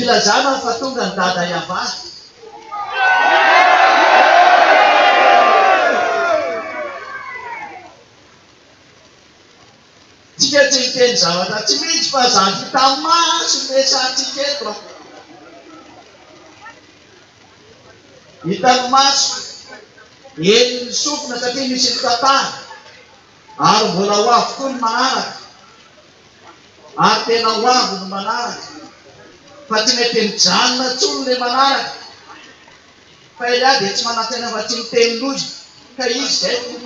Ilazana fa tonga ny dada Yavah. Tsika tsy hiteny zavatra tsy misy fa zany hita maso ny resahantsika eto a. Hitan'ny maso, henon'ny sofina satria misy mitantara. Ary mbola ho avy koa ny manaraka, ary tena ho avy ny manaraka, fa tsy mety mijanona intsony ilay manaraka, fa Elia dia tsy manantena fa tsy miteny loza, ka izy izay no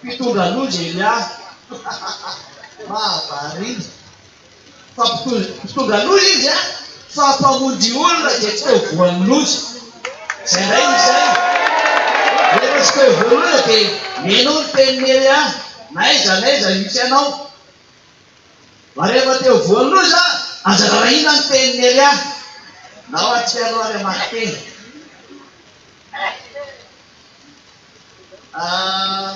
mpitondra loza Elia, mahavariana. Fa mpitondra loha izy an! Fa mpamonjy olona dia tsy teo voan'ny loza. Izay indray no saina. Rehefa tsy teo voan'ny loza dia mihenoa ny tenin'i Elia, N'aiza n'aiza misy anao? Fa rehefa teo voan'ny loza, aza rarahina ny tenin'i Elia. Ndao hahatsiaro ary hamaky teny. Ah.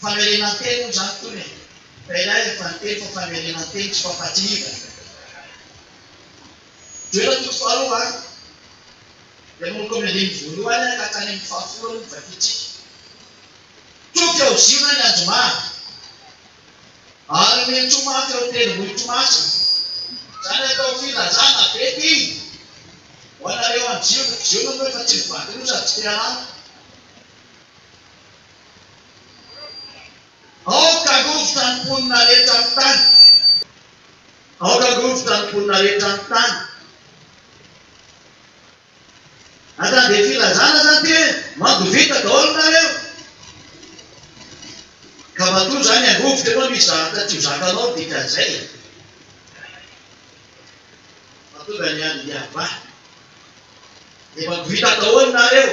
Famerenan-teny moa izany tony e! Fa ialahy ilay faninteny fa famerenan-teny tsy fampatsiahivana e! Jereo ny toko faharoa an! Dia manomboka amin'ny andininy voalohany an ka hatrany amin'ny fahafolo aloha ny vakintsika. Tsoa fy ao Ziona ny anjomara, ary omeny tsoa mafy ireo tendrombohitro masina. Izany atao filazana be ity ho anareo any Ziona, Ziona moa efa tsy ny vakin'io sady tsy te-harary. Aoka rovitra ny mponina rehetra ny tany Aoka rovitra ny mponina rehetra ny tany Ata dia filazana zany ty hoe manjo vita daholo nareo Ka matoa zany hangovitra ianao misy zavatra tsy ho zakanao dikan'izay e Fa tonga ny andro hiavahana Efa vita daholo nareo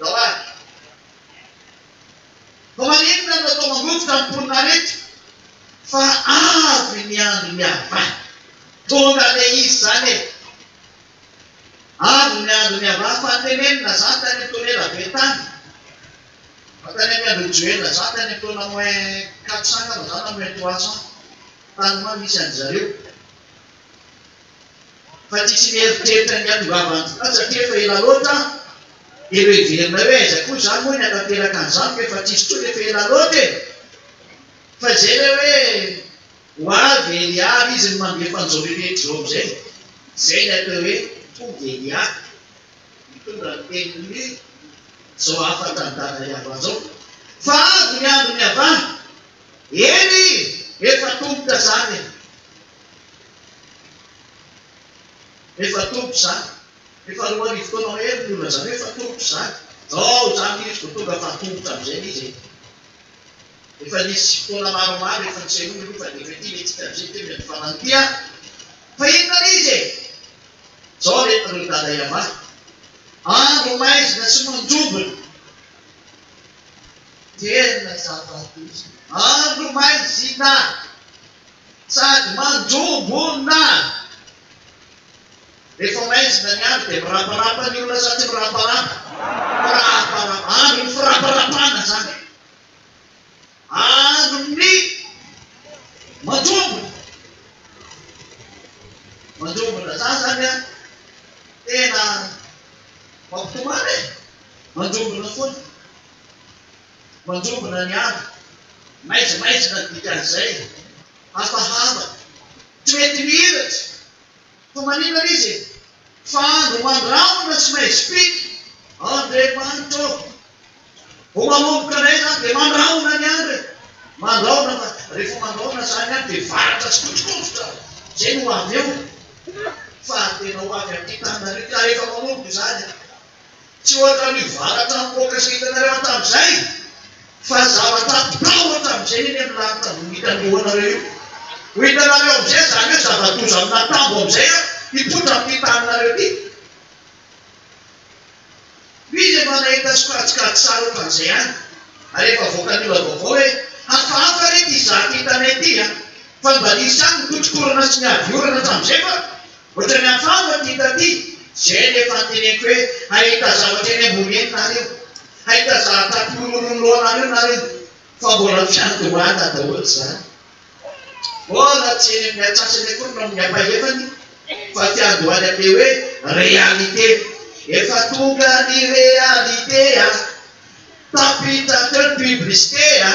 Jawad. Fa maninona no atao mangotrika ny mponina rehetra fa avy ny andron'i Allah? Tonga ilay izy izany e! Avy ny andron'i Allah fa tenenina izany tany amin'ny taona ela be tany, fa tany amin'ny andron'i Joela izany, tany amin'ny taona moins quatre cents angamba izany na moins trois cents tany ho any misy an-dry zareo. fa tsisy mieritreritra ny hiandohavan'ny vola satria efa ela loatra an! Dia noheverinay hoe aiza koa izany moa ny hanateraka an'izany fa efa tsisy intsony efa ela loatra e! Fa izay ilay hoe ho avy Elia ary izy no mandefa an'izao rehetra izao amin'izay. Izay ny atao hoe tonga Elia, mitondra ny tenin'ny izao hafatra an'i Dada Yavah izao fa avy ny andron'i Yavah, eny, efa tongotra izany e! Efa toko izany. Efa roa arivo taona mahery no nolazaina hoe efa toko izany. Izao izany ankehitriny vao tonga fahatongotra amin'izay ilay izy e. Efa nisy fotoana maromaro efa nisehoana aloha fa dia efa ity ilay tsika amin'izay kely amin'ny farany ity an! Fa inona ilay izy e? Izao ilay ireo dada iavahy. Andro maizina sy manjombona. Tena zava-doza. Andro maizina! Sady manjoa monina rehefa maizina ny andro dia miraparapa ny olona sa tsy miraparapa? Miraparapa, andro ny firaparapana izany e! Andro ny manjombona, manjombona za zany a tena mampitomany e! Manjombona foana. Manjombona ny andro, maizimaizina ny dikan'izay, hafahafa, tsy mety mihiratra, fa maninona izy e? Fa andro mandrahona sy maizim-pika, Andriamanitra ô! Vao manomboka indray izany dia mandrahona ny andro e! Mandrahona fa rehefa mandrahona izany andro dia varatra sy kotrokotrotra, izay no ho avy eo, fa tena ho avy ampitana re, ka rehefa manomboka izany Tsy ohatra ny varatra nipoaka sy hitanareo hatramin'izay fa zavatra atao hatramin'izay eny amin'ny lanitra vao hitan'ny lohanareo io. Ho hitanareo amin'izay izany hoe zava-doza amina tambo amin'izay ary hipoitra amin'ity taninareo ity. Misy efa nahita sokajikajy sary ohatran'izay ihany ary efa avoakan'ny olona vaovao hoe hafahafa re ity zaka hitanay ity an! Fa mba nisy ihany ny kotrokorana sy ny ady orana hatramin'izay fa Ohatran'ny hafahafa ity hita ity, izay no efa noteneniko hoe hahita zavatra eny ambony eny nareo, hahita zavatra hampirongorony lohanareo nareo, fa mbola mifanondohana daholo izany. Mbola tsy eny amin'ny antsasany akory no amin'ny ampahefany fa fiandohany amin'ilay hoe réalité. Efa tonga ny réalité a! Tapitra teo ny publicité a!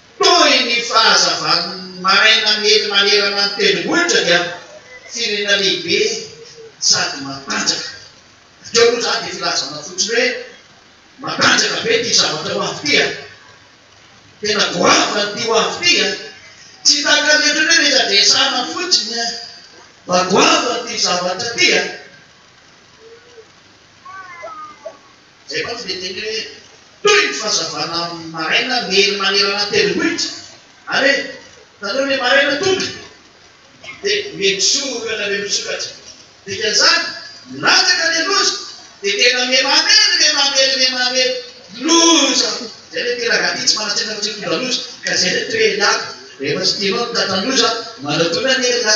Toy ny fahazavan'ny maraina miely manerana ny tendrombohitra dia firenena lehibe sady matanjaka. Bakeo aloha izany dia filazana fotsiny hoe matanjaka be ity zavatra ho avy ity a! Tena goavana ity ho avy ity a! Tsy tahaka ny ohatran'ny hoe resadresana fotsiny a! Fa goavana ity zavatra ity a! Izay mantsy dia teny hoe, toy ny fazavana maraina miely manerana ny tendrombohitra. Ary hoe, talohan' ny maraina tonga, dia mihemosoa olona be misokatra. Dikan'izany, milatsaka ilay loza, dia tena miha mamely, miha mamely, miha mamely. Loza! Izay ilay mpirangahy tia tsy manan-tsaina fa tsy mitondra loza, ka izay ilay toerany. Rehefa tsy tianao ny tratran-doza, manatonana iangaha.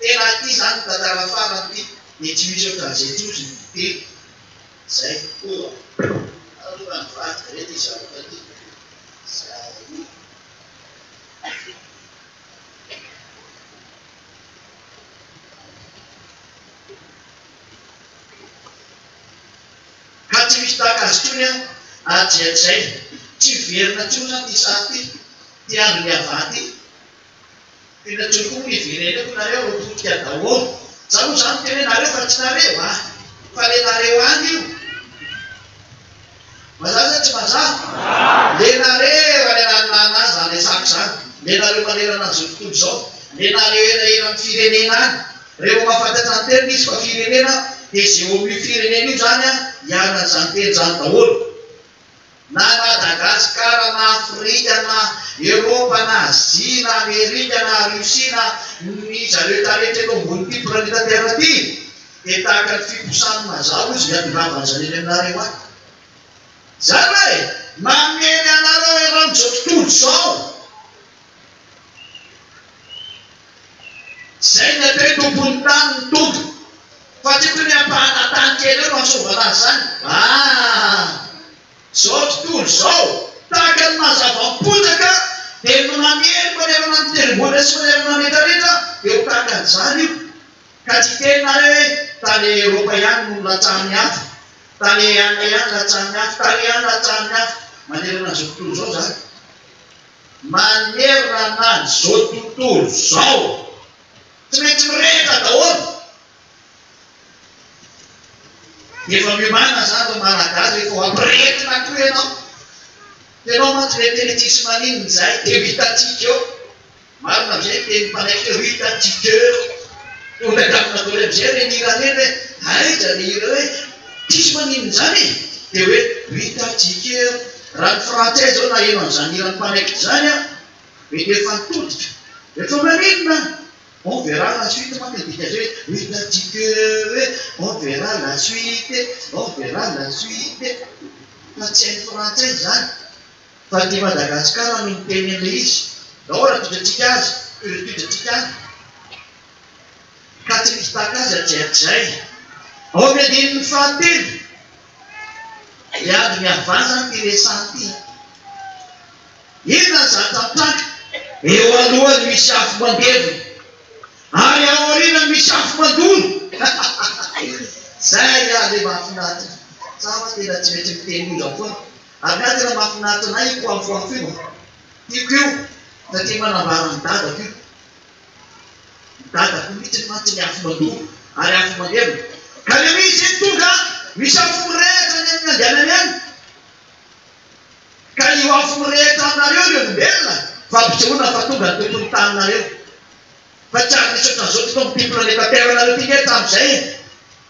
Tena aty zany tantara farany ty ny Twitter Gazety ozy ny fiteny zay koa aloha nivadika re ty zavatra ty zay ka tsy misy tahaka azy tony an adrian zay tsy hiverina tsony zany ty sary ty ty andro ny havaha ty. Tena tsy ho miverena eto nareo ro potika daholo za mo zany tena nareo fa tsy nareo a! fa le nareo any io mazava sa tsy mazava? le nareo any ananonano any zany resako zany le nareo manerana an'izao tontolo zao le nareo elaelan'ny firenena any revo mahafantatra ny teniny izy fa firenena de ze eo amin'io firenena io zany a hiaran'izany teny zany daholo Na Madagasikara na Afrika na Eropa na Azia na Amerika na Russie na ny zarehetra rehetra eto ambonin'ity planeta Terre ity dia tahaka ny fiposahan'ny mazà hozy ny hatongavan'ny zany eny aminareo any. Izany hoe, mamely anareo eran'izao tontolo izao. Izay ny atao hoe tompon'ny tany ny tompo fa tsy toy ny ampahana tany kely eo no antsovana azy izany aa! Izao tontolo izao tahaka ny mazava am-potaka dia ny manery manerana ny tendrombohitra sy manerana ny rehetrarehetra dia ho tahaka an'izany io ka tsy hiteny nareo hoe tany Eropa ihany no nilatsahan'ny afo, tany Inde ihany nilatsahan'ny afo, tany Iran nilatsahan'ny afo manerana an'izao tontolo izao izany. Manerana an'izao tontolo izao, tsy maintsy mirehitra daholo. Efa miomàna izany ry Malagasy rehefa ho ampirehetina koa ianao. Hitanao mantsy ilay teny tsisy maninona izay, dia ho hitantsika eo. Marina amin'izay ny tenin'ny mpanaiky hoe ho hitantsika eo. Tonga dia amin'ny nataony amin'izay ireny hira ireny hoe aiza ilay hira hoe tsisy maninona izany e? Dia hoe ho hitantsika eo. Raha ny frantsay izao naheno an'izany hiran'ny mpanaikitra izany an! Mety efa nitodika. Efa maninona an! On verra la suite manko ny dikan'izay e! Hitantsika eo e! On verra la suite e! On verra la suite e! Fa tsy hain'ny frantsay izany. Fa aty Madagasikara no miteny an'ilay izy. Nahoana no todratsika azy? Toy izay todratsika any. Ka tsy misy tahaka azy hatrizay hatrizay. Ao amin'ny andininy fahatelo. Miady ny havana ity resaha ity. Inona ny zava-tantara? Eo alohany misy afo mandevona ary ao aoriana misy afo mandona. Zay ary le mahafinaritra. Za ho'a tena tsy maintsy miteny io zao foana. Ary nga tena mahafinaritra anay io poafoafo io a. Tiako io satria manambara an'i dadako io. I dadako mitsy mantsy ny afo mandoro ary afo maneno ka le misy eny tonga misy afo mirehitra any aminy andianany any ka io afo mirehitra anareo ry olombelona fa ampisehoana fa tonga ny tompony taninareo fa tsy ary misy otran'zao tokoa amty planeta terre nareo ty nge hatramizay e.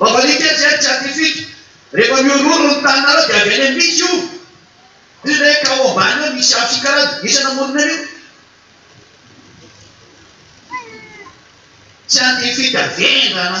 Mavalika jet scientifique, rehefa mihorohoro ny taninareo dia avy any amin'ny misy io. Misy izay hoe cao ambany ao misy afo sy karana, iza namorona an'io? Scientifique vendrana.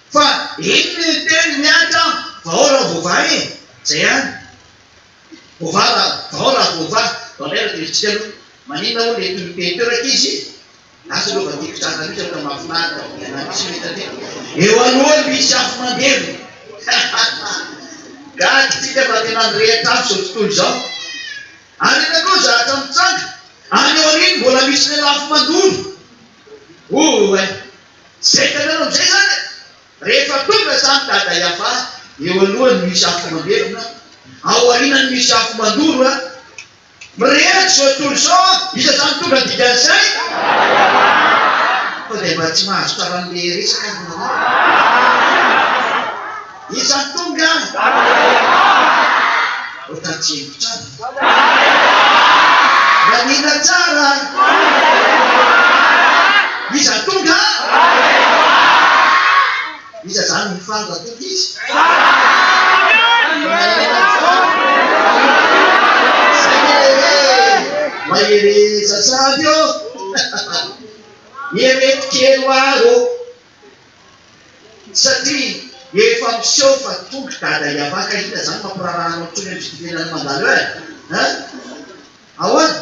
Fa inn ny teny mihatra an! Vahao raha voavaha e! Zay ihany. Voavaha raha, vahao raha voavaha. Vao indray raha tezitra aloha, maninona hono ilay tononkely teo rankizy? Lasa aloha fa tiako tranga mihitsy aloha raha mahafinaritra fa ianao mihitsy no hita teo. Eo aloha no hisy afo mandevona. Gaga isika fa tena mirehitra afo izao tontolo izao. Ary iny koa zahatra mitsanga, any aoriany mbola misy lela afo mandoro. Oay! Zay hitanareo amizay zany e! Rehefa tonga zany Dada Yava, eo alohany misy afo mandevona, ao arinany misy afo mandoro a! Mirehitra zao tontolo izao a! Iza zany tonga dikan'izay? Fa dia mba tsy mahazo taran'le resaka ary nareo? Iza no tonga? Ho taty hevitra any? Mianiana tsara! Iza no tonga? Iza izany no faly raha tonga izy? Mahereza sahady ô! Mireto kely ho ahy ô! Satria efa miseho fa tonga dada hiavaka ka inona zany mampiraharaha anao intsony amin'izay fitenenana mandalo eo eh! Hein! Ahoana?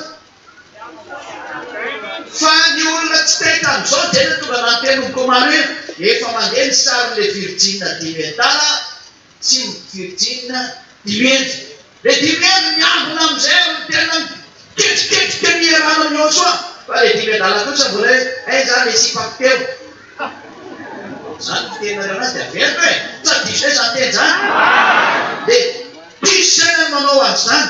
Fa ny olona tsy tay tamin'izao dia tonga nantenomiko maro iny efa mandeha ny sarin'ilay virjina dimy hekitara Tsy ny Virjiny Dimiandry. Ilay Dimiandry miambina amin'izay ary tena miketriketrika ny hiarahana amin'i Yôsoa, fa ilay Dimiadala kosa mbola hoe, Hay za le sipako teo. Izany ny fiteninareo anazy dia averiko e! Sa diso ve izany teny izany? Dia diso izay ny manao azy izany.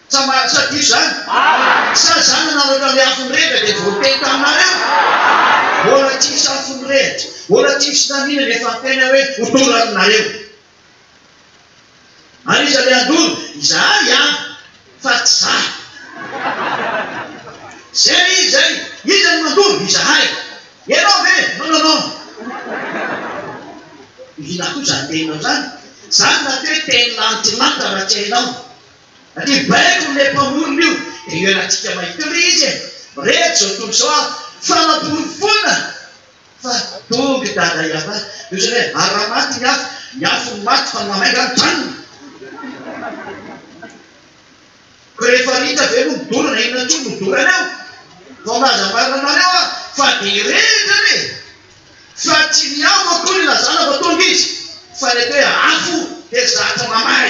Sa mahatsapa io zany? Sa za nanao ohatran'ny afo mirehitra dia voateny taminareo? Mbola tsy misy afo mirehitra, mbola tsy misy na n'inona efa miteny aho hoe ho tonga aminareo. Ary iza le handoro? Izahay ihany fa tsy za. Zay izy zay, iza no mandoro? Izahay. Ianao ve? Non non non. Inona koa zany teninao zany? Zany rahateo teny lantilanitra raha tsy hainao. Ry baiko amin'ilay mpamorona io dia eo anatintsika maitri izy e! Mirehitra izao tontolo izao aho fa namporofoina fa tonga i Dada Yavah dia ohatran'ny hoe ara-maty ny afo, ny afo no maty fa ny mahay angaha mijanona? Koa rehefa ritra ve no midorana inona intsony no doraneo? Vao milaza marina anareo aho fa dia hirehitra re! Fa tsy ny ao no toy ny lazana vao tonga izy, fa ny ate afo dia zatra mamay.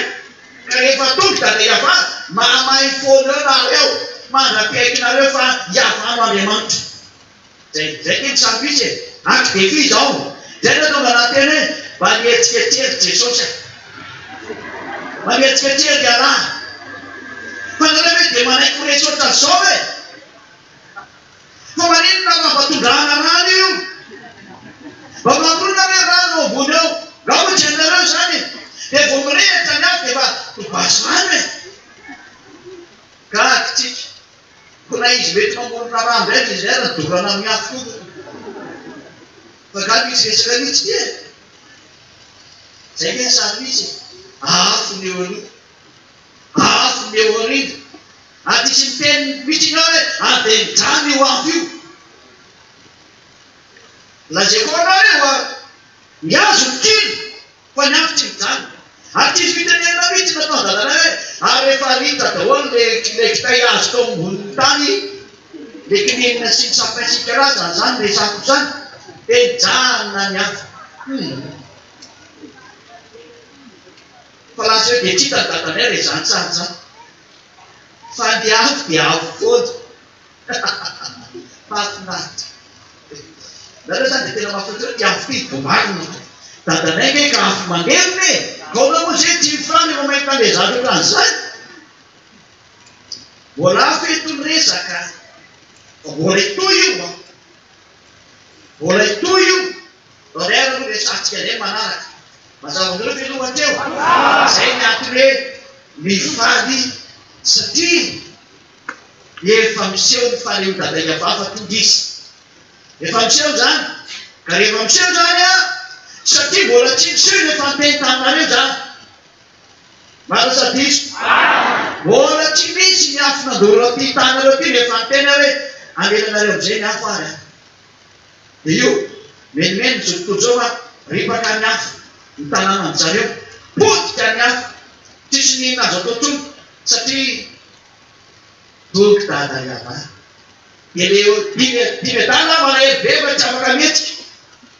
Ka rehefa tonga i Dada Iavah, mahamay foana eo nareo, mandra-piaikinareo fa Iavah no Andriamanitra. Zay zay kay ny sarimpisy e! Aky de f'iza ao? Zay no tonga nahateny hoe, mba nihetsiketsika ry Jesosy a! Mba nihetsiketsika ry ialahy a! Fa nareo ve dia manaiky ho resy ohatran'izao ve? Fa maninona fa mba tondrahana rano io? Mba mamorona ve rano ao ambony ao? Raha hoy Jennereux izany dia vao mirehitra ny afo dia efa ho basy rano e! Gaga tsika. Koa na izy mety mamorona rano indray dia izay ary ny dorana amin'ny afo koa moa. Fa angaha misy resaka mihitsy ity e! Izay ve ny sarimihitsy e! Afo ny eo aloha. Azo ny eo aoriana. Adisy ny teny misy ingahy hoe aden-drano io afo io. Lazaiko aminao hoe ho avy. Mihazo ny kilo fa ny afo tsy mijanona. Aty fitenenana mihitsy nataon-dadanay hoe ary rehefa rita daholo le ilay kitay azo tao ambonin'ny tany le kininina sy ny sapin sy ny karazany izany resako izany dia nijanona ny afo. Hum. Fa lasa hoe Betita ny dadanay raha izany tsara tsara. Fa ny avo dia avo foana. Mahafinaritra. Nareo izany dia tena mahafinaritra hoe ny avo ity vao marina hoe dadanay ve ka avo mangerona e! Gaona moa izay dimy francs rehefa mahita an'ilay zaza ohatran'izany. Mbola hafa eto ny resaka. Fa mbola hitohy io an! Mbola hitohy io horaire no resahantsika indray manaraka. Mazava aminareo ve aloha teo? Mazava! Izay ny antony hoe mifaly satria efa miseho ny fahaleovandadain'i Ava fa tonga izy. Efa miseho izany. Ka rehefa miseho izany an, satria mbola tsy niseho ilay famiteny taminareo izany. Marina sa diso? Mbola tsy misy ny afo nandoro an'ity taninareo ity rehefa niteny aho hoe hamelanareo amin'izay ny afo ary aho. Dia io, menomeno ny zotom-po zao fa ripaka ny afo ny tanànan-dry zareo. Potika ny afo. Tsisy ny inona azo atao intsony satria dogy dada iavana. Dia le dimy dimy adala aho malahelo be fa tsy afaka mihetsika.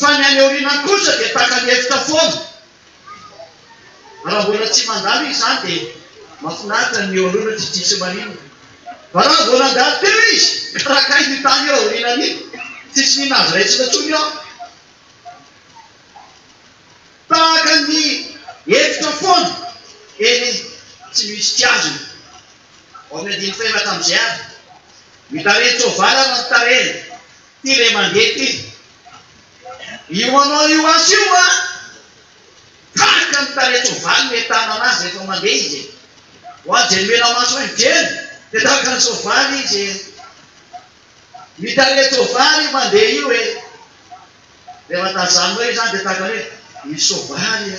Fa ny any aoriana kosa dia taka ny efitra foana. Raha mbola tsy mandalo izy izany dia mahafinaritra ny eo alohany tsy tsisy maninona. Fa raha vao nandalo teo izy, karakay iny tany eo aorianany iny, tsisy n'inona azo raisina intsony eo. Tahaka ny efitra foana eny tsy misy kiazina. Ao amin'ny andininy fahenina tamin'izay avy, ny tarehin-tsoavaly ary ny tarehiny, ity ilay mandeha ity, io manao io asa io an! tahaka ny tarehin-tsoavaly no itanana azy rehefa mandeha izy e! ho an'izay nomena-maso ahy mijery dia tahaka ny soavaly izy e! ny tarehin-tsoavaly io mandeha io e! rehefa tazaninao izany dia tahaka ny hoe ny soavaly e!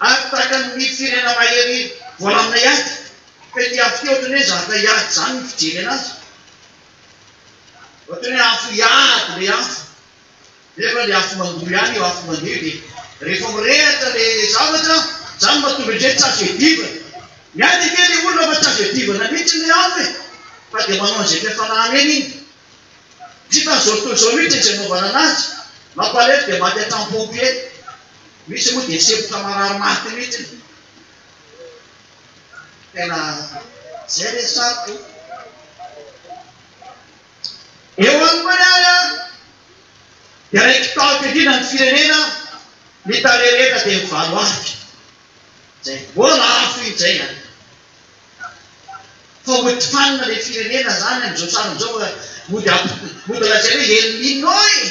Ary tahaka ny mihidy firenena mahery voalamina ihany, ka ity afo ity ohatry ny hoe zatra hiady izany ny fijery anazy. Ohatry ny hoe afo hiady ilay afo, nefa ilay afo mandoa ihany io afo mandeha io, dia rehefa mirehitra ilay zavatra, izany no mahatonga indray tsy azo iadivana. Miady ange ilay olona fa tsy azo iadivana mihitsy ilay afo e! Fa dia manao an'izay fiafarany eny iny. Tsy hitan'izao tontolo izao mihitsy izay anaovana anazy, mampalahelo dia maty an-trano-pompier. Misy moa dia sempotra marary maty mihitsy e! Tena zay le sarotra e! Eo any koa ny ahy an! Dia raiky tamiko indrindra ny firenena ny tale rehetra dia mivalo afika! Zay vao lafo iny zay an! Fa mody fanina le firenena zany amin'izao sarany izao fa mody mody lazaina hoe El Nino e!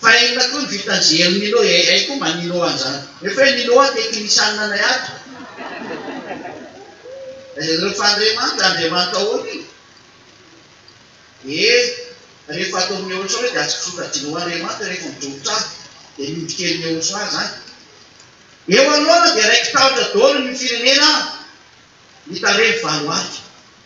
Fa inona koa ny vitan-jery Nino e? Hay koa mba Nino an'izany. Nefa hoe Nino a tekinisianina anay ato. Ry Fandriamanitra, Andriamanitra ahoana io? Ee, rehefa ataon'i Yehoshoa dia azo sokajiana ho Andriamanitra rehefa midrobotra ahy, dia ny odinkelin'i Yehoshoa izany. Eo anoloana dia raiki-tahotra daholo ny firenena mitaremy valo alina.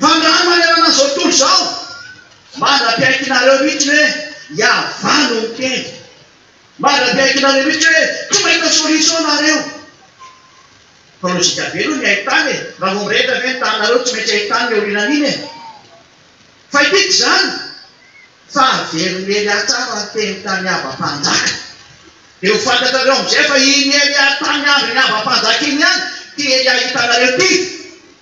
Mpandraha manerana izao tontolo izao, mandra-piaikinareo mihitsy hoe Yavah no miteny. Mandra-piaikinareo mihitsy hoe tsy mahita solution nareo. Fa lojika be aloha ny hain-tany e! Raha vao mirehitra ve ny taninareo tsy maintsy hain-tany ny aorianan'iny e! Fa ity tsy izany fa averiny Elia tsara ny teny tamin'i Aba mpanjaka. Dia ho fantatrareo amin'izay fa iny Elia tamin'ny andron'i Aba mpanjaka iny ihany ity Elia hitanareo ity.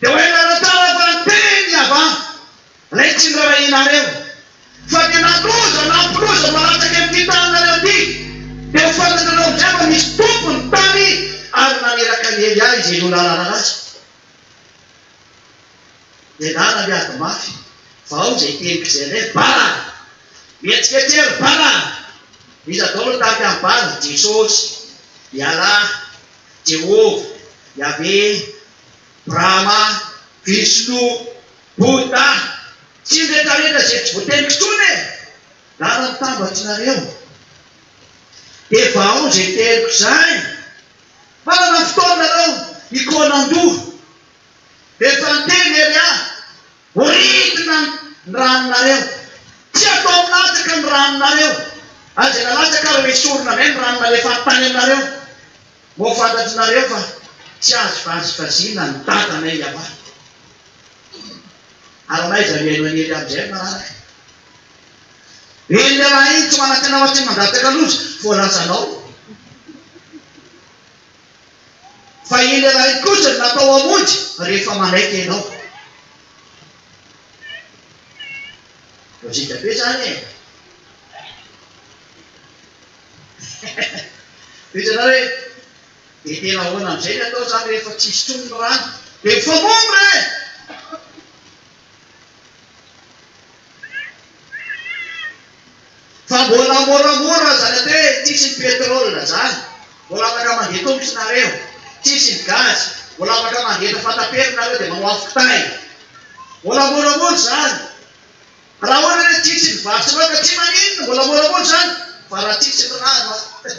Dia ho hainareo tsara fa ny teny Yavah ilay tsy nirarahianareo, fa dia nandoza na hampiloza mahalatsaka amin'ity taninareo ity, dia ho fantatrareo amin'izay fa misy Tompo ny tany, ary naniraka an'i Elia izay olona rararatsy, dia nanabe ady mafy, fa ao izay teniko izay hoe, Bala! Mihetsiketsea ry Bala! Iza daholo no tahaka an'i Bala? Jesosy, Ialahy. Jehovah, Yaveh, Brahma, Vishnu, Bouddha, sy ny retraretra izay tsy voatenika intsony e! Lala mitambatry nareo. Dia vahao izay teriko izay. Manana fotoana nareo hikaona andoha. Efa niteny ery aho. Voaridina ny ranonareo. Tsy atao milatsaka ny ranonareo. Aza nalatsaka ary ho esorina indray ny rano nalefan'ny tany aminareo. Moa fantatrinareo fa tsy azo vazivaziana ny Dadanay Iavah. Ary anaiza ny haino haniry amin'izay ny manaraka? Eny, ny rahalahy iny tsy manan-tena ao Atsimo Mandatsaka loza, voalazanao. Fa iny iray kosa no natao hamonjy rehefa manaiky ianao. Lojika be zany e! Hitanao hoe dia tena ahoana amin'izay ny atao zany rehefa tsisy intsony ny rano? Dia mifamono re! Fa mbola moramora zany ate tsisy ny petrole zany mbola afaka mandeha tongotra nareo tsisy ny gaz mbola afaka mangeta fatapera nareo de manao afo kitay mbola moramora zany raha ohatra hoe tsisy ny vary sy laoka tsy maninona mbola moramora zany fa raha tsisy ny rano a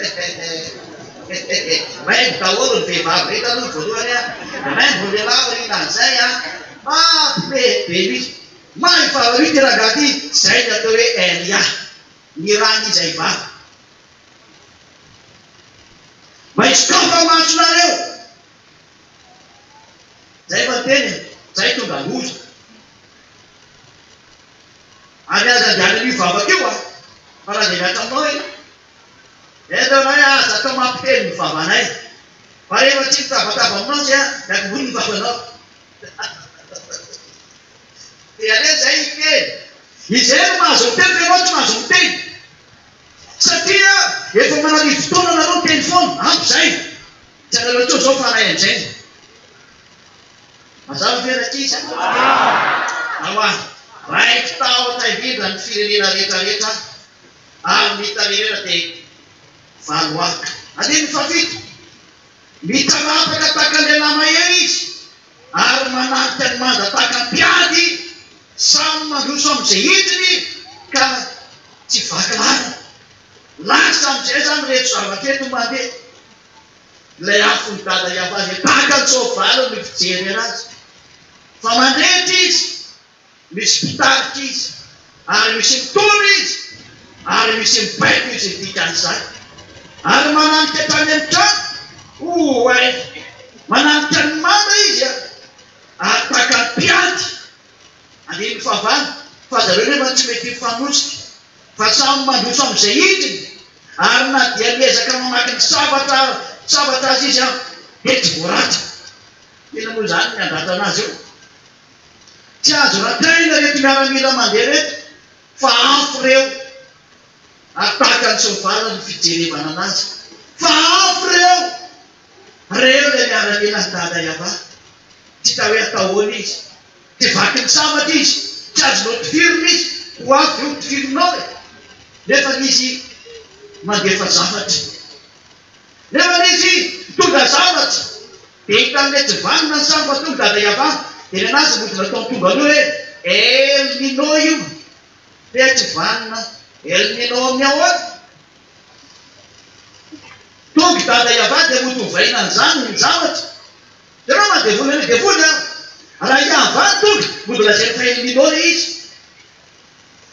hehehe maimbo daholo ny vehivavy rehetra aloha ny voalohany a maimbo ny lehilahy aoriana an'izay a Ah poulet be lui! Mahay vava lui ty rangahy ty! Zay ny atao hoe RIA! Ny rà ny izay vava! Maitso kapa maso nareo! Zay efa niteny e! Zay tonga loza! Ary aza andehanany io vavaka io a! Fa raha dia miasa aminao ianao! Eto ianao hoe aza atao mampiteny ny vavanay! Fa rehefa tsy mitabataba aminao dia miankin-doha ny vavanao! Dia aleo izay ny teny. Izay no mahazo miteny fa ianao tsy mahazo miteny. Satria efa manarivo fotoana nareo miteny foana. Ampy izay. Tsy anareo intsony izao fa anay amin'izay. Mazava ve rankizy? Nahoa? Raiki tahotra indrindra ny firenena rehetrarehetra ary ny tanin'irena dia valo aka. Andininy fahafito. Mitanapaka tahaka ny lehilahy mahery izy ary manampy an'i Manda tahaka ny mpiady, samy mandroso amin'izay hitiny ka tsy vaky lalana. Lasa amin'izay izany ireto zavatra ireto mandeha. Ilay afon'i Dada Yavazy tahaka ny soavaly no fijerena azy fa mandrehitra izy Misy mpitarika izy, ary misy mitondra izy, ary misy mibaiko izy ny dikan'izany. Ary mananika tany amin'ny trano, oay, mananika ny manda izy, ary tahaka ny mpiady, andininy fahavalo, fa zareo nefa tsy mety hifanosika, fa samy mandroso amin'izay hitiny, ary na dia miezaka mamaky ny sabatra sabatra aza izy dia tsy voaraty. Inona moa izany ny handratra anazy eo? Tsy azo radraina ireto miaramila mandeha ireto fa afo ireo ary tahaka ny tsy mivala ny fijerevana an'azy fa afo ireo! Reo ilay miaramila an'i Dada Yava! Tsy hita hoe atao ahoana izy! Tsy vaky ny sabatra izy! Tsy azonao tifirina izy! Ho avy ve ho tifirinao e! Nefa izy mandefa zavatra! Rehefa nisy mpitondra zavatra dia hitan'ny ilay tsy vanona ny sary fa tonga dada Yava dia nanaja ny mody nataon'ny tonga loha hoe El Nino io dia tsy vanona El Nino amin'ny ahoana? Tonga dada Yava dia mody ovaina an'izany ny zavatra. Ianao maha devoly an'ilay devoly an! Raha i Yava no tonga mody lazainy fa El Nino ilay izy.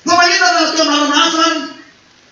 Fa maninona raha natao anarana hafa aminy?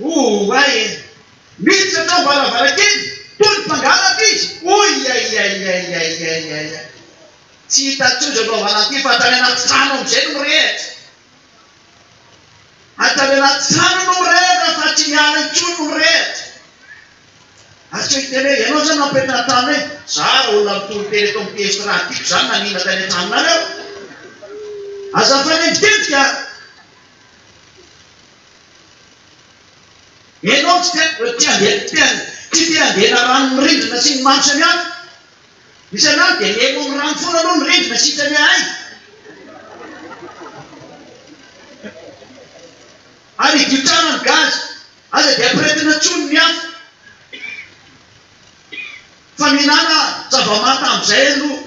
Oay e! Miditra tao am-baravarankely toa ny mpangalatra izy! Oiaiaiaiaiaiaiaiaiai! Tsy hita intsony izay mpivavala ity fa hatrany anaty trano amin'izay no mirehitra! Hatrany anaty trano no mirehitra fa tsy miala intsony no mirehitra! Asio hiteny hoe ianao izany mampirehetra ny an-tranonay e! Za olona mitory teny eto amin'ity Estra tiako izany nanina tany an-tranonareo! Aza mifanenjikenjika a! Ianao tsy te tsy te handeha tsy te tsy te handeha na rano ny rindrina sy ny maro samihafa. Isan'andro dia mihaino amin'ny rano foana aloha ny rindrina sitrany ahay. Ary hidio tsara ny gaz, aza dia ampirehetina intsony ny afo. Fa mihinana zava-manta amin'izay aloha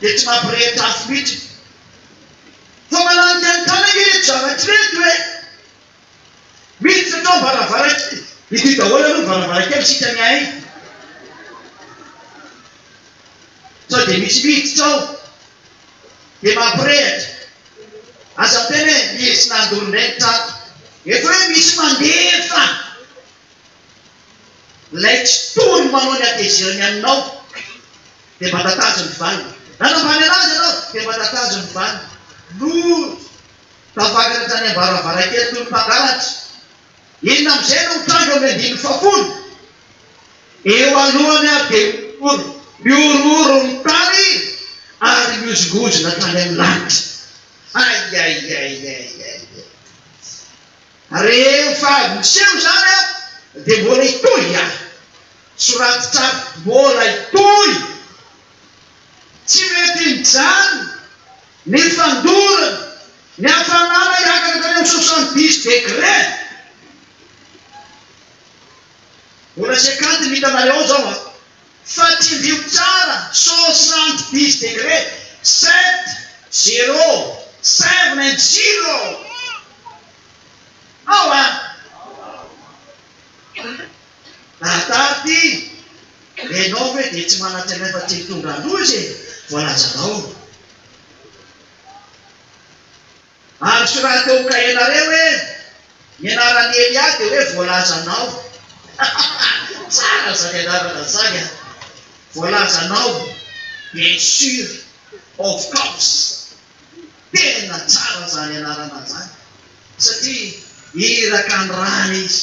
dia tsy mampirehitra afo mihitsy. Fa malan'ny tantana ange ireto zavatra ireto e! Miditra tao am-baravarankely, ity daholo aloha ny varavarankely isika miahy e! Sao dia misy miditra ao dia mampirehitra. Aza miteny hoe nisy nandoro indray ny trano. Efa hoe misy mandefa. Ilay tsy tohiny manao ny hatezerany aminao dia mba tatajo ny valiny. Nanambany anazy ianao dia mba tatajo ny valiny. Nody tafakatra tany am-baravarankely toy ny mpangalatra. Inona amin'izay no mitranga amin'ny andininy fahafolo? Eo alohany ary dia mihorohoro, mihorohoro ny tany ary mihozongozona hatrany amin'ny lanitra. Aiaiaiaiaiai. Rehefa miseho izany aho dia mbola hitohy ihany. Soraty tsara, mbola hitohy. Tsy mety mijanona ny fandorana, ny hafanana hiakatra hatrany amin'ny soixante dix degre. Mbola cinquante ny hitanareo ao izao an. Fa tsindrio tsara soixante dix degre sept zero seven and zero Ao a! Lahatary ty, ianao ve dia tsy manantenaina fa tsy mitondra loza e! Voalazanao. Androso raha teo kaenareo hoe ny anaran'i Elia dia hoe voalazanao tsara zany anarana zany a! voalazanao bien sur of course tena tsara zany anarana zany satria iraka ny ràny izy.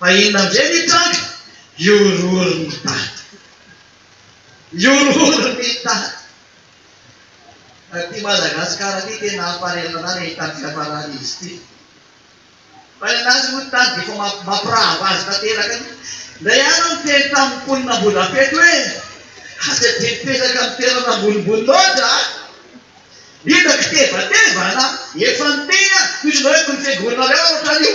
Ahiana ndray ny tranga, mihorohoro ny tady. Mihorohoro ny tady. Ity Madagascar ity tena hamparetanà ilay hitany fiafarany izy ity. Fa ny anazy moa ny tady dia efa mampirava azy tanteraka aloha. Ndray ihany aho niteny tamin'ny mponina Ambohidrapeto hoe aza dia mipetraka amin'ny toerana ambonimbony loatra a! Hita kitevateva anà. Efa niteny aho, toy izao hoe kony fiangoanareo aho ohatran'io.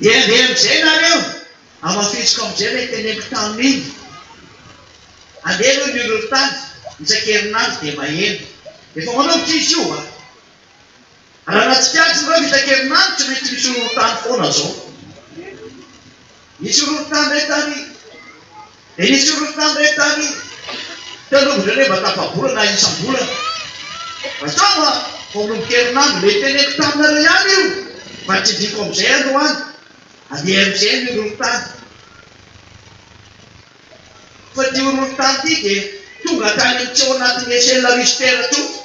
Dia andeha amin'izay nareo, hamafisiko amin'izay ilay teneniko tamin'iny. Andeha aloha ny horohorontany, isan-kerinandro dia maheno. Efa manomboka izy io a! Raha nahatsikaritra nareo fa isan-kerinandro tsy maintsy misy horohorontany foana izao. Nijoro tany re tany Dia nijoro tany re tany Teo aloha indreo re mba tafabolana isam-bolana Vazao a, vao manomboka herinandro Ilay teneniko taminareo ihany io Fa tsindriako amin'izay androany Andeha amin'izay ny horohorontany Fa ity horohorontany ity dia tonga hatrany amin'ny tsy ao anatin'ny échelle Richter tsotra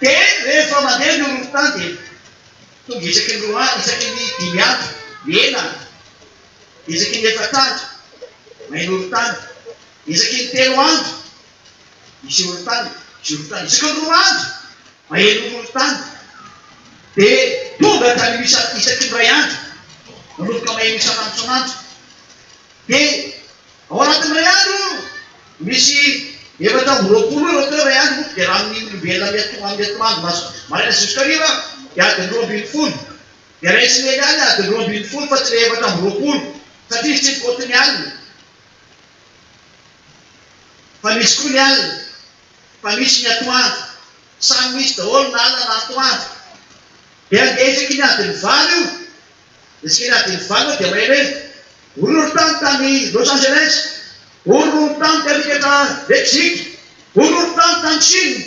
Dia rehefa mandeha ny horohorontany dia Tonga isaky ny roa andro, isaky ny dimy andro, eny an! isaky ny efatr'andro, main-orontany, isaky ny telo andro, misy orontany, misy orontany, isaky ny roa andro, maheno orontany, dia tonga hatramin'ny isa, isaky ny iray andro, manomboka maheno isan'antson'andro, dia. Ao anatin'ny iray andro, misy efatra amby roapolo ireo teo iray andro, dia raha amin'ny olombelona amin'ny atoan amin'ny atoandro maso maraina zisk'hariva dia adiny roa ambin'ny folo, dia raisin'i Elia ny adiny roa ambin'ny folo fa tsy ilay efatra amby roapolo, satria izy tsy mikaoty ny alina, fa misy koa ny alina, fa misy ny atoandro, samy misy daholo na alina na atoandro, dia handeha isaky ny adiny valo io. Ny tsena Adinivano dia mahay hoe horohoron-tany tany Los Angeles, horohoron-tany tany Riquetra, Mexique, horohoron-tany tany Chine,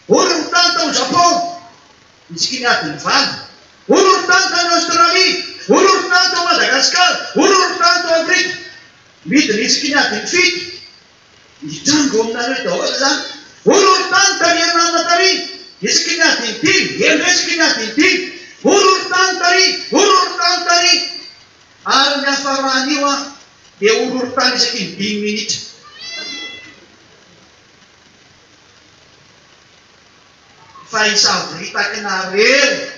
horohoron-tany tao Japon, ny tsikin'i Adinivano, horohoron-tany tany Aostralia, horohoron-tany tao Madagasikara, horohoron-tany tao Afrika. Midina i Tsikin'i Adinifito. Mijango eo aminareo daholo izany. Horohoron-tany tary Anarina tary, isaky ny adiny dimy, heno isaky ny adiny dimy, horohoron-tany tary, horohoron-tany tary. Ary ny hafaran'io an, dia horohoron-tany isaky ny dimy minitra. Fa hisavoritaka anareo.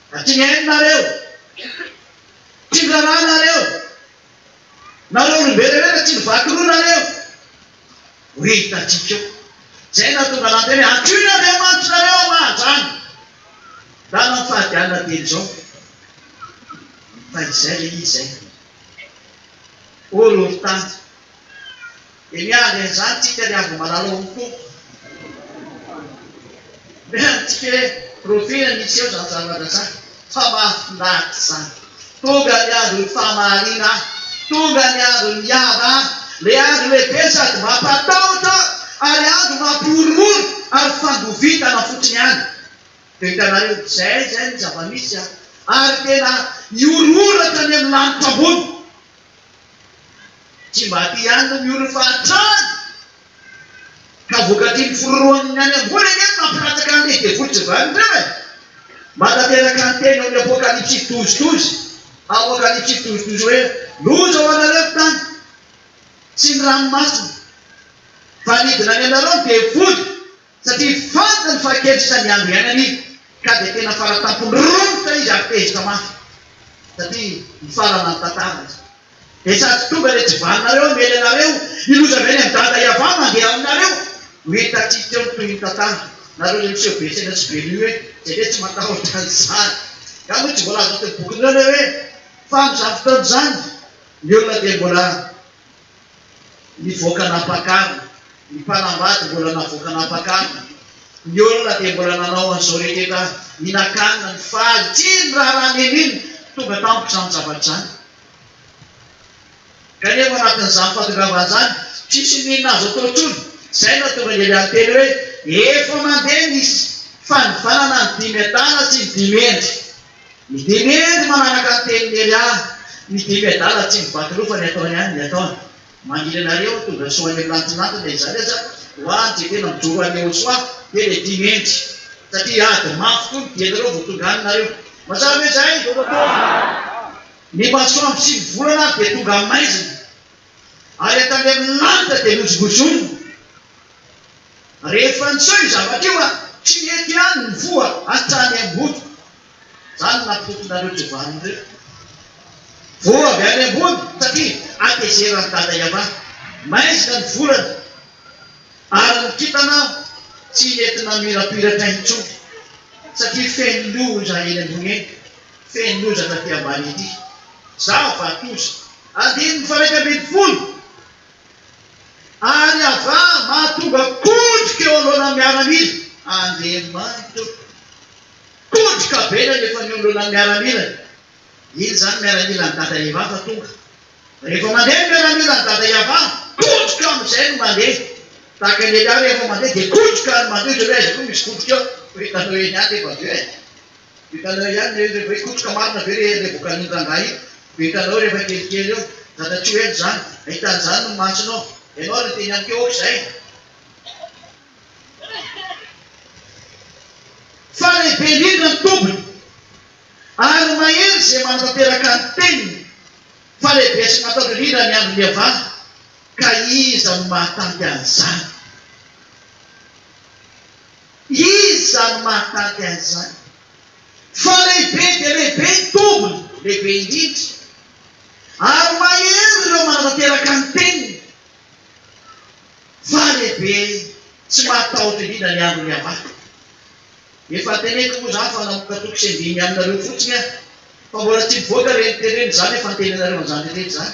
Fa tsy mihaino nareo. Tsy miraharaha nareo. Nareo olombelona ireny fa tsy nivaky roa nareo. Ho hitantsika eo. Izay no nahatonga anah niteny hoe antsoy ny andriamanitrareo hamaha-drano. Rano amin'ny fahady alina telo izao. Fa izay ilay izy izay. Ô Lolo tany. Dia miandry an'izany tsika ry Andry Malala ô Tompo. Miandry tsika hoe rofina ny hiseho zany zavatra zany fa mahafinaritra zany. Tonga ny andron'ny fahamahariana an! Tonga ny andron'ny hiava an! Le andro lehibe sady mampatahotra ary andro mampihorohoro ary fangovitana fotsiny ihany. Dia hitanareo izay izay no zava-misy an! Ary tena hihorohoro hatrany amin'ny lanitra ambony. Tsy mba aty ihany no mihory fahantrana ka vokatry ny firoroan'ny any ambony anie no mampilatsaka an'ilay devoly tsy vanona ireo e! Manateraka ny teny ao amin'ny Apokalypsy douze douze, Apocalypse douze douze, hoe, Loza ho anareo ny tany sy ny ranomasina, fa nidina any aminareo ny devoly! Satria fantany fa kely sisa ny andro iainany ka dia tena fara-tampon'ny romotra izy ary tezitra mafy satria hifarana ny tantara izy. Dia sady tonga dia tsy vaninareo aho miely anareo, ny loza avy any amin'i Dada Yavah mandeha aminareo. Ho hitantsika eo ny tohin'ny tantara. Nareo ilay miseho be saina sy be lue izay ve tsy matahotra an'izany? Nga moa tsy voalaza teo bokin'ireo ilay hoe fa amin'izany fotoana izany ny olona dia mbola nivoaka nampakany, ny mpanambady mbola navoaka nampakany, ny olona dia mbola nanao an'izao rehetra hinan-kanina ny faly, tsy iny raharaha neny iny tonga tampoka izany zavatra izany. Kanefa ao anatin'izany fahatongavana izany, tsisy n'inona azo atao intsony, izay no hahatonga ny Elialy hiteny hoe, Efa mandeha ny fanivanana ny dimy hetara sy ny dimy hendry, Ny dimy eny manaraka ny tenin'i Elia, ny dimy adala tsy mibatrofa ny ataony ihany ny ataony. Mangilana re aho tongasoa any amin'ny lantinanty na izany aza ho ahy tsy tena mijoro an'i Yehosoa dia ilay dimy hendry satria ady mafy koa ny dianareo vao tonga any nareo. Mazava ve izay? Ny masoandro sy ny volana ary dia tonga amin'ny maizina. Ary avy tany amin'ny lanitra dia nojongozonina. Rehefa niseho io zavatra io aho, tsy nety ihany ny voa hatrany am-botoko. Izany no nampitontonareo tsy ho valiny ireo. Voa avy any ambony, satria hatezeran'i Dada Yavah. Maizina ny volana, ary ny kintana tsy nety namirapiratra intsony, satria feno loza eny ambony eny, feno loza taty ambany ety. Zava-doza! Andininy faha-iraika ambin'ny folo, Ary Abraha mahatonga kondroka eo anoloanan'ny miaramila, Andriamanitra ô, kondroka be ilay rehefa eo anoloanan'ny miaramilany, iny izany miaramilan'i dada Eva fa tonga, rehefa mandeha ny miaramilan'i dada Eva, kondroka amin'izay no mandeha, tahaka ny Elia rehefa mandeha dia kondroka no mandeha, ohatran'ny hoe aiza koa misy kondroka eo, fa hitanao eny ihany rehefa avy eo e. Hitanao ihany ve ilay hoe kotroka marina ve ilay ilay vokalin'ny rangahy iny? Dia hitanao rehefa kelikely eo, zata-tsy ho ela izany, hahita an'izany ny masonao. Ianao ary miteny amiko hoe ohatr'izay? Fa lehibe indrindra ny tombony, ary mahery izay manatanteraka ny teniny, fa lehibe sy matahotra indrindra ny andron'ny Havana, ka iza no mahatanty an'izany? Iza no mahatady an'izany? Fa lehibe dia lehibe ny tombony, lehibe indrindra. Ary mahery ireo manatanteraka ny teniny, fa lehibe sy mahatahotra indrindra ny andron'ny avako. Efa teneniko moa izany fa namoaka toko sy andiany aminareo fotsiny aho, fa mbola tsy mivoaka ireny tenenina izany, efa antenainareo an'izany rehetra izany.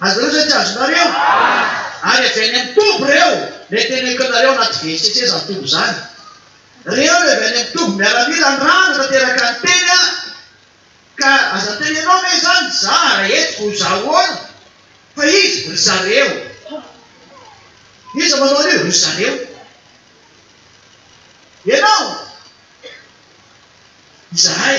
Azonareo zay tsy azonareo? Ary avy any am toby reo le tena ekonareo anaty vetsetse zany toby zany. Reo le avy any am toby miaramila an rano tanteraka ny teny an! Ka aza tenenao ve zany za ra eto ko za ahoana? Fa izy ry zareo. Iza manao an'io? Ry zareo. Ianao? Izahay.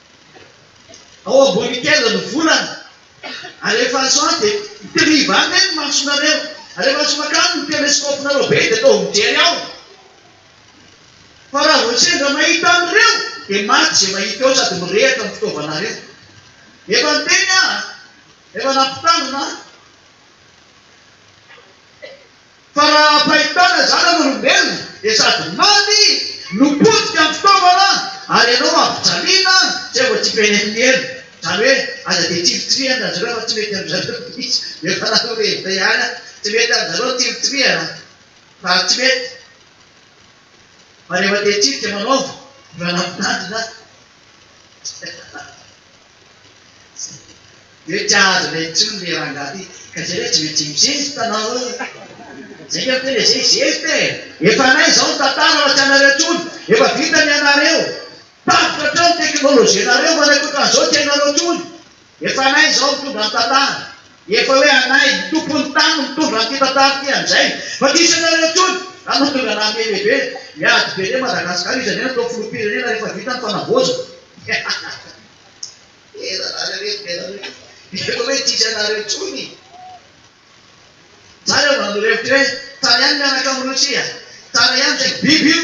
Ao ambony kely ny volana ary rehefa azo ahy dia mitriva any ve ny masonareo? Ary rehefa azo makany ny telescope-nareo be dia ataovy mijery ao fa raha vao sendra mahita an'ireo dia maty izay mahita eo sady mirehatra ny fitaovanareo. Efa niteny aho, efa nampitandrina aho. Fa raha am-pahitana zanak'olombelona dia sady maty no potika amin'ny fitaovana ary ianao ampijaliana izay vao tsy benefin'ny ela. Izany hoe aza dia tsiritsirihana ry zareo fa tsy mety amin-dry zareo mihitsy. Efa nanorevina ihany aho, tsy mety amin-dry zareo ny tsiritsirihana fa tsy mety. Fa rehefa te-hitsirika manaova, efa nampitandrina aho. Mety hahazo intsony le rangahy ty ka zay hoe tsy maintsy mizesta nareo e! Zay nge miteny hoe zay zesta e! Efa anay zao ny tantara fa tsy anareo tsony! Efa vita ny anareo! Tapitra hatreo ny teknolojianareo fa ny ankoatran'izao tsy hainareo tsony! Efa anay zao mitondra ny tantara! Efa hoe anay, ny tompon'ny tany no mitondra an'ity tantara ity amin'izay, fa tsy hisy anareo intsony raha mahatonga anà mihebebe, miady be an'i Madagasikara izy anie natao filoham-pirenena rehefa vita ny fanavaozana. Hehehe tena nareo ry benareo io, efa hoe tsy hisy anareo intsony. Za reo mba nanorevotra hoe tsara ihany mianaka amin'i Rosia, tsara ihany saingy biby io.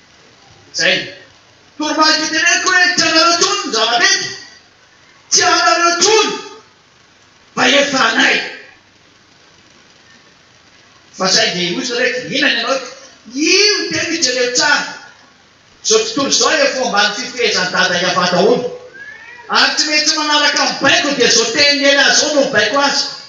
Zay. Toromarika teneniko hoe tsy anareo tony ny zava-drehetra, tsy anareo tony fa efa anay. Fa saingy hoy zareo hoe inona ny anao ito? Io teny io jereo tsara, zao tontolo zao efa ambany fifehezan'i Dada Yavah daholo, ary tsy maintsy manaraka ny baiko dia zao teny Neny azy zao no mibaiko azy.